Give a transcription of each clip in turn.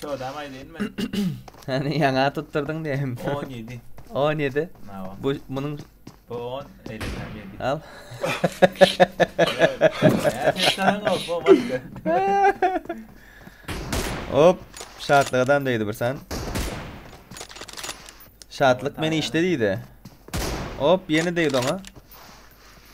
Çöwdäm aýdaýyn men. Seni ýaňa tutdurdyň diýeýin. 17. 17. Nawa. Bu munuň Bu 10, eýlesem 7. al. Sen ol, bu başga. Hop, şatlyk adam diýdi bir sen. Şatlyk meni işde diýdi. Hop, ýene diýdi oňa.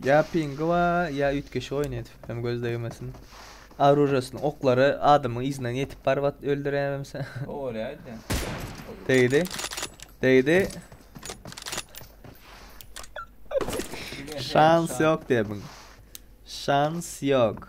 Ýa pingi bar, ýa üýtgeşik oýun edip, hem göz degmesin. Arujasyny, oklary adamyň yzyna ýetip baryp at öldüremse. Oýaýdy. Degdi. Degdi. Şans ýok debin. Şans ýok.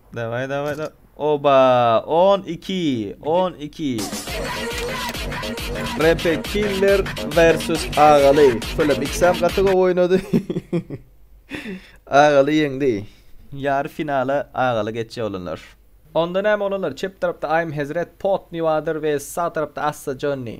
Daway daway da. Oba 12 12 Repe Killer vs Agaly. Şöyle iksam gaty gowy oýnady. Agaly ýeňdi. Ýar finala Agaly geçýär olanlar. Onda näme olanlar çep tarapda I'm Hezret, Pot Niwadyr vs sag tarapda Assa Jonny.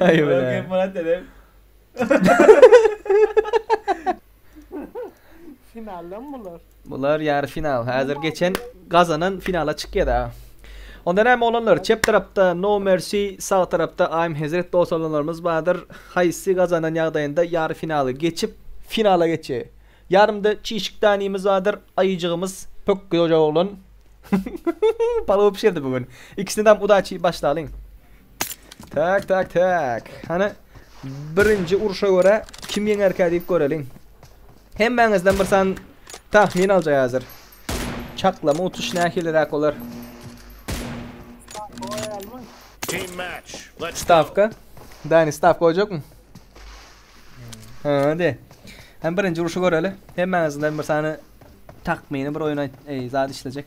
Aýbine. Finaldan bular. Bular ýary final. Häzir geçen gazanan finala çykýada. Onda näme olanlar? Çep tarapda No Mercy, sag tarapda I'm Hezret dos olanlarymyz bardyr. Haýsy gazanan ýagdaýynda ýary finaly geçip, finala geçe. Ýarymda çişik danimiz bardyr, aýyjygymyz pök goja oglan. Palaw bişirdi bu gün. Ikisine dam udaçi başlalyň. Tak tak tak. Hana birinji urşa göre kim ýeňerkä diýip göreliň. Hemmäňizden bir san tahmin aljak häzir. Çaklama utuş nähiliräk bolar? Stavka. Dani stavka goýjakmy? Ha, de. Hem birinji urşy göreli. Hemmäňizden bir sany takmini bir oýun aýt, zat işlejek.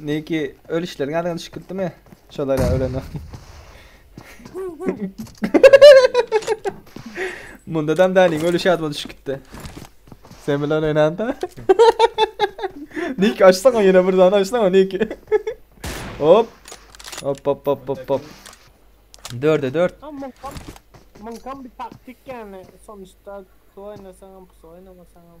Niki öl işleriň ýadyňa düşüp gitdimi? Şolar ýa ölen ýok. Munda dam däniň ölüş ýadyma düşüp gitdi. Sen bilen oýnanda. Niki açsaňa ýene bir zany açsaňa Niki. hop. Hop hop hop hop hop. Dörde dört. Mınkam bir taktik yani sonuçta kısa oynasaňam kısa oynamasaňam.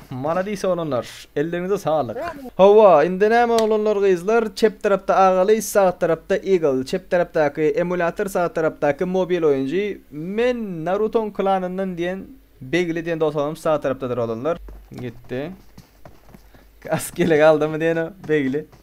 Maladis oglanlar elleriňize saglyk. Hawa indi näme oglanlar gyzlar çep tarapda Agaly sag tarapda Eagle çep tarapdaky emulýator sag tarapdaky mobil oýunjy men Narutoň klanyndan diýen Begli diýen dotomym sag tarapdadyr oglanlar gitdi Kas gele galdymy diýen o Begli.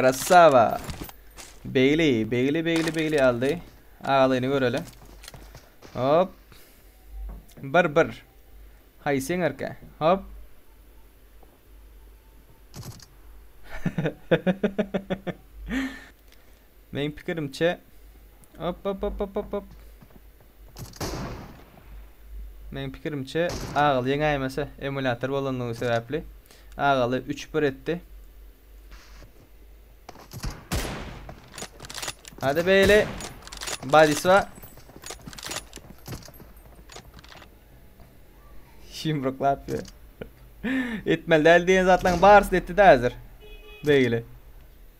Krasava. Begli, Begli, Begli, Begli aldı. Ağalayını göreli. Hop. Bir, bir. Hay sen erke. Hop. Meň pikirimçe Op op op op op op. Meň pikirimçe Agal ýeňäýmese emulýator bolandygy sebäpli Agaly 3-1 etdi. Hadi beýle. Badiswa. Şimruklap ýör. Etmeli däl diýen zatlaryň barysyny etdi-de häzir. Beýle.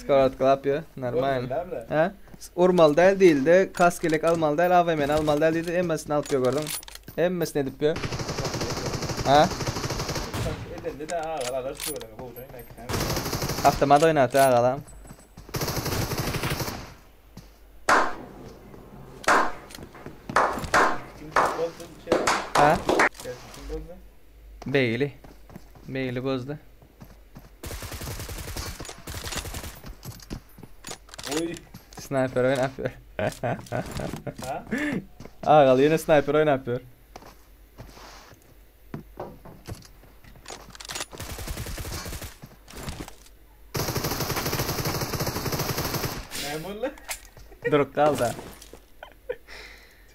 Skarlet klapýa, normal. Hä? Urmaly däl diýildi, kask elek almaly däl, AVM-ni almaly däl diýdi, hemmesini alyp ýör gördüň. Hemmesini edip ýör. Hä? Edildi de agal alar şu bölümi gowjaň näkisem. Awtomat oýnat agalam. Hä? Begli. Begli gözde. Oy. Sniper oynap ýör. Ha? Agal ýene sniper oynap ýör. Ne boldu? Durup galda.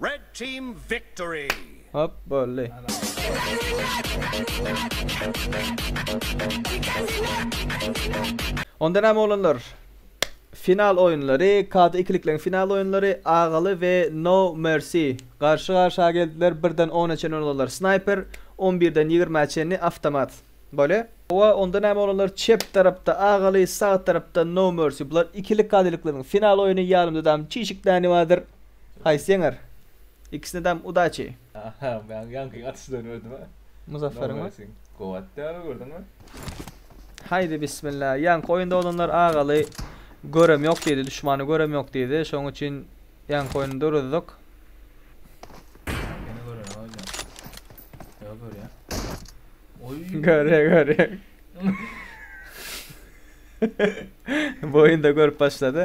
Red team victory. Hop boldy. Onda näme oglanlar? Final oýunlary, KD ikilikleň final oýunlary Agaly we No Mercy garşy-garşa geldiler, birden ona çenli olanlar Sniper, on birden ýigrimä çenli Awtomat. Bolýa. Howa onda näme olanlar çep tarapda Agaly sag tarapda No Mercy bular ikilik gadylyklaryň final oýuny ýanymda dam çişik dani bardyr haýsy ýeňer ikisine dam udaçi. Aha men ýaňky atyşdan gördüm a. Muzafferin mi? Gowy atdy aga gördüňmi? Haýdi bismilla ýaňky oýunda olanlar Agaly görem ýok diýdi duşmany görem ýok diýdi şoň üçin ýaňky oýuny duruzdyk. Ýene gören aga jan. Yo görýär. Oy. Görýär, görýär. Bu oýunda görüp başlady.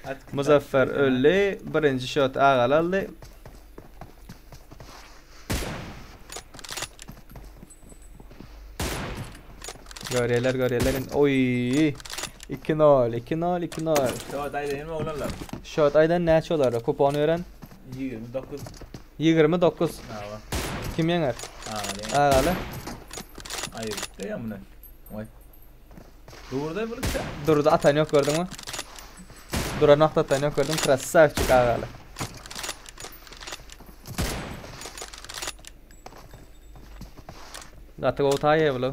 At- Muzaffer at- öldi. Birinji şot Agal aldy. Görýärler, görýärler. indi. Oy! 2-0, 2-0, 2-0. Yo dayı değil mi oğlanlar? Şot aydan näçe olar? Kupon ören. 29 Ýigrimi dokuz. Aga. Kim ýeňer? Agaly. Agaly. Aýyrypdy ýa muny. Oý. Durda bulupsa. Durda atan ýok gördüňmi? Dura nokta atan ýok gördüň. Krasavçik agaly. Gaty gowy taýýa bulu.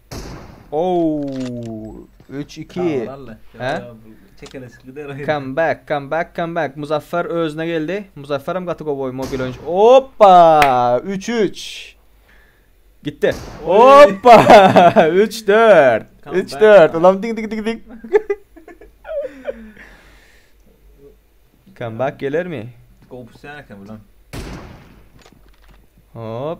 Ow! Üç, iki. He? Çekeleşik gider. Come back, come back, come back. Muzaffer özüne geldi. Muzaffer hem gaty gowy mobil oyuncu. Hoppa! 3-3. Gitti. Hoppa! 3-4. 3-4. Ulan ding ding ding ding. come back gelir mi? Gowy pusýan eken bulan. Hop.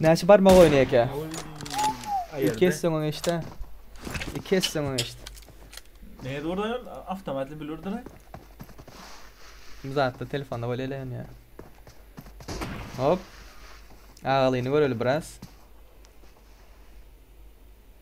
Näçe barmak oýny eke? Iki esse oňa geçdi. İki esse oňa geçdi. Ne zordan avtomatli bilirdir. Zatta telefonda böyle eleyen ya. Hop. Ağalyny göreli biraz.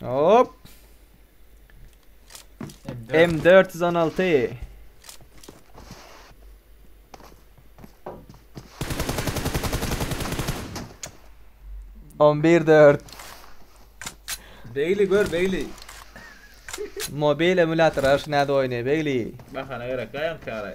Hop. M416. On bir dört. Beyli gör Beyli. Mobil emülator aş näde oýnaýar Begli. Bahana gerek gaýam kara.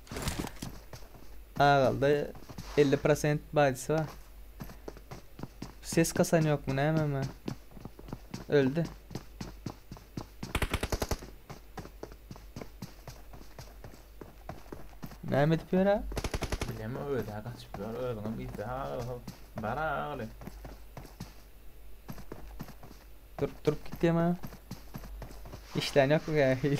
Agalda 50 prosent baýdysy bar. Ses kasan ýokmy nämemi? Öldi. Näme edip ýör ha? Bilem o öde kaçyp ýör. Özüňem gitse agaly. Bara agaly. Durup durup gitýäm ha. İşlän ýokmy gähil?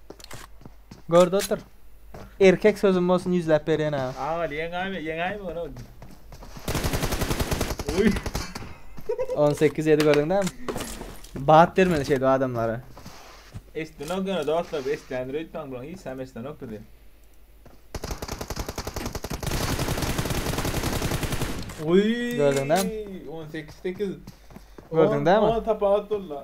Görde otur. Erkek sözüm bolsun ýüzläp berýän aga. Aman ýeňäýme ýeňäýme ony. Oý. 18 ýedi gördüň dämi? Bat bermeli şeýdip adamlara. Eşitdenok ýöne dostlar bu eşitlendir öýtmäň bulaň hiç zam eşitlenok bizi. Oý. Gördüň dämi? 18 8. Gördüň dämi? Ol tapawut boldy.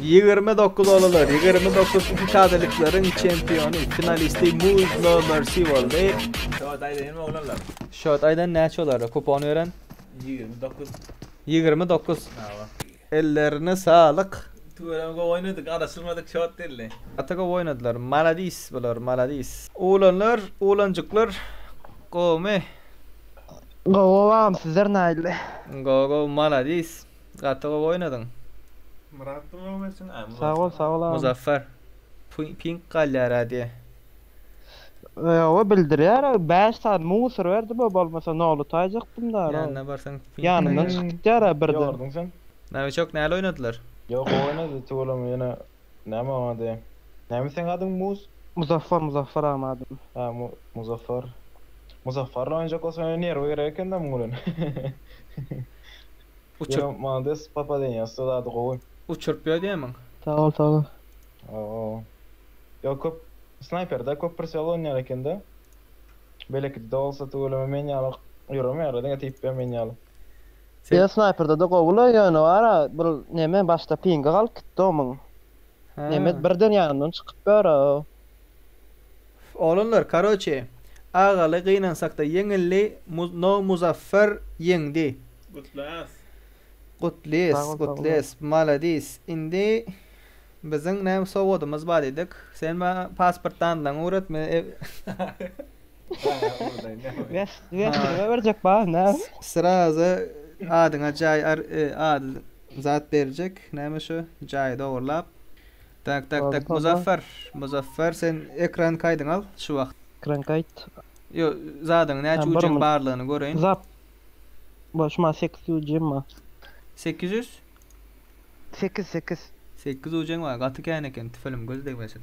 Ýigrimi dokuz olalar, ýigrimi dokuz iki şadelikleriň çempiony, finalisti Muz No Mercy boldy. Şot aýdaýynmy oglanlar? Şot aýdan näçe olara kupon beren? Ýigrimi dokuz. Ýigrimi dokuz. Hawa. Ellerine saglyk. Tüweleme gowy oýnadyk, araşdyrmadyk şot däldi. Gaty gowy oýnadylar. Maladis bular, maladis. Oglanlar, oglanjyklar gowumy? Gowy gowy agam sizler naýle. Gowy gowy maladis gaty gowy oýnadyň. Myrat da gowy geçsin a Myrat. Sag ol sag ol agam. Muzaffar pink galýar a diýe. Ýoga bildirýär bäş sany musor berdi bu bolmasa noly taýjakdym da ro. Ýanyna barsaň pink. Ýanymdan çykyp gitýär a birden. Ýorduň sen. Nawiçok näle oýnadylar. Ýok gowy oýnady tüweleme ýene. Näme oň ady? Näme seň adyň Muz? Muzaffar Muzaffar agam adym. Hä Muzaffar. Muzaffar bilen oýnajak bolsaň ýöne nerwy gerek ekendä muň bilen. Uçur. Ýöne malades popadeniýa ussat ady gowy. Uçuryp ýödýämiň? Sag bol sag bol. Oho. Ýok köp snaýperde köp prisial oýnaýar ekende. Belekide bolsa tüweleme men ýaly ýöremeýär diňe typ bilen men ýaly. Sen Ýa snaýperdede gowyla ýöne bara bir neme başda pingi galyp gitdi omyň. Neme Hä. birden ýanymdan çykyp bara-ow. Oglanlar karoçe Agaly gynansakda ýeňildi muz no Muzaffer ýeňdi. Gutles. Sag Gutles bol sag bol. gutles maladis indi biziň näme sowgadymyz bar diýdik sen maňa pasport danylaň öwret men ew Gäsdirme berjek bar näme? Sraza adyňa jaý ar e ad zat berjek näme şo jaýy dogurlap. Tak tak tak Muzaffar Muzaffar sen ekran kaýdyňy al şu wagt. Ekran kaýt. Ýo zadyň näçe ucin barlygyny göreýin. Zat bar şu maňa sekiz ucin bar. Sekiz ýüz? Sekiz sekiz. Sekiz ucin bar gaty kän eken tüfelem göz degmesin.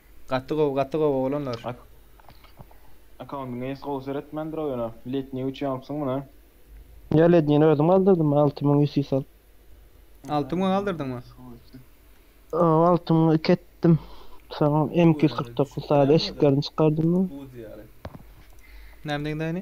Gaty gowy gaty gowy oglanlar. Akkauntyňa ýes gowy seretmändirok ýöne letniý üçin alypsyň muny. Ýa lednini özüm aldyrdym alty müň ýüz sis alyp. Alty müňe aldyrdyňmy? Ow alty müňe iki etdim. Soňam M iki ýüz kyrk dokuz sada eşiklerini çykardym. Näme diýdiň daýny?